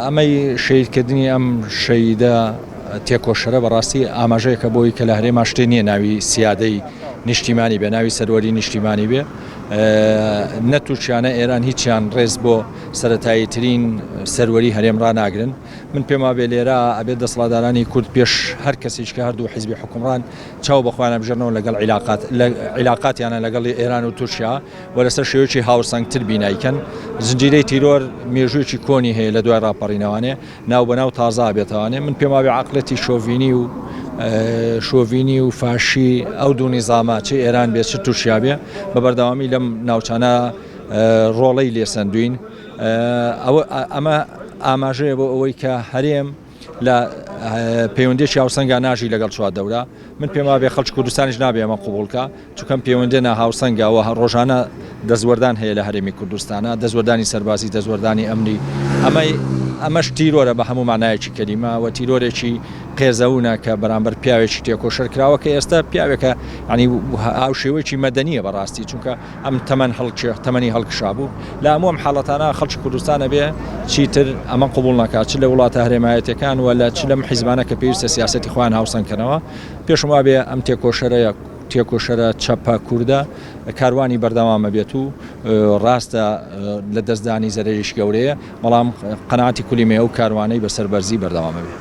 ئەمەی شەهید کردنی ئەم شەهیدە تێکۆشەرە بەڕاستی ئاماژەیەکە بۆی کە لە هەرێما شتێ نییە ناوی سیادەی نیشتیمانی بێ ناوی سەروەری نیشتیمانی بێ نە تورکیانە ئێران هیچیان ڕێز بۆ سەتایی ترین سەروەری هەرێم ڕناگرن من پێم وابێ لێرە ئەبێت دەسڵادارانی کورد پێش هەر کەسیش کە هەردوو حیزبی حکومڕان چاو بەخوایان بژێنەوە لەگەڵ عیلاقات عیلاقاتیانە لەگەڵی ئێران و تورکیا و لەسەر شێوەیەکی هاوسەنگتر بینای کەن. زنجیرەی تیرۆر مێژوویەکی کۆنی هەیە لە دوای ڕاپەڕینەوانێ ناو بە ناو تازە ئابێتەوانێ. من پێم وابێ عەقڵێتی شۆڤینی و شۆڤینی و فاشی ئەو دوو نیزامە چ ئێران بێ چ تورکیا بێ بە بەردەوامی لەم ناوچانە ڕۆڵەی لێ سەندووین. ئەوە ئەمە ئاماژەیە بۆ ئەوەی کە هەرێم، لە پەیوەندیەکی هاوسەنگا ناژی لەگەڵ چوار دەورە من پێم وابێ خەڵکی کوردستانیش نابێ ئەمە قوبوڵ کا چونکەم پەیوەندی ناهاوسەنگا و ڕۆژانە دەستوەردان هەیە لە هەرێمی کوردستانە دەستوەردانی سەربازی دەستوەردانی ئەمنی ئەمەی ئەمەش تیرۆرە بە هەموو مانایەکی کەلیمە و تیرۆرێکی قێزەونە کە بەرامبەر پیاوێکی تێکۆشەر کراوە کە ئێستا پیاوێکە ینی هاوشێوەیەکی مەدەنیە بەڕاستی چونکە ئەم تەمەن هەڵکشێ تەمەنی هەڵکشابوو لە هەموو ئەم حاڵەتانە خەڵکی کوردستان ئەبێ چیتر ئەمە قبوڵ ناکات چ لە وڵاتە هەرێمایەتیەکان و لە چ لەم حیزبانە کە پێویستە سیاسەتی خۆیان هاوسەنگ کەنەوە پێشم وابێ ئەم تێکۆشەرەیە تێکۆشەرە چەپە کوردە کاروانی بەردەوامە بێت و ڕاستە لە دەستدانی زەرریش گەورەیە بەڵام قەناتی کولیمێ و کاروانەی بەسەر بەرزی بەردەوامە بێت.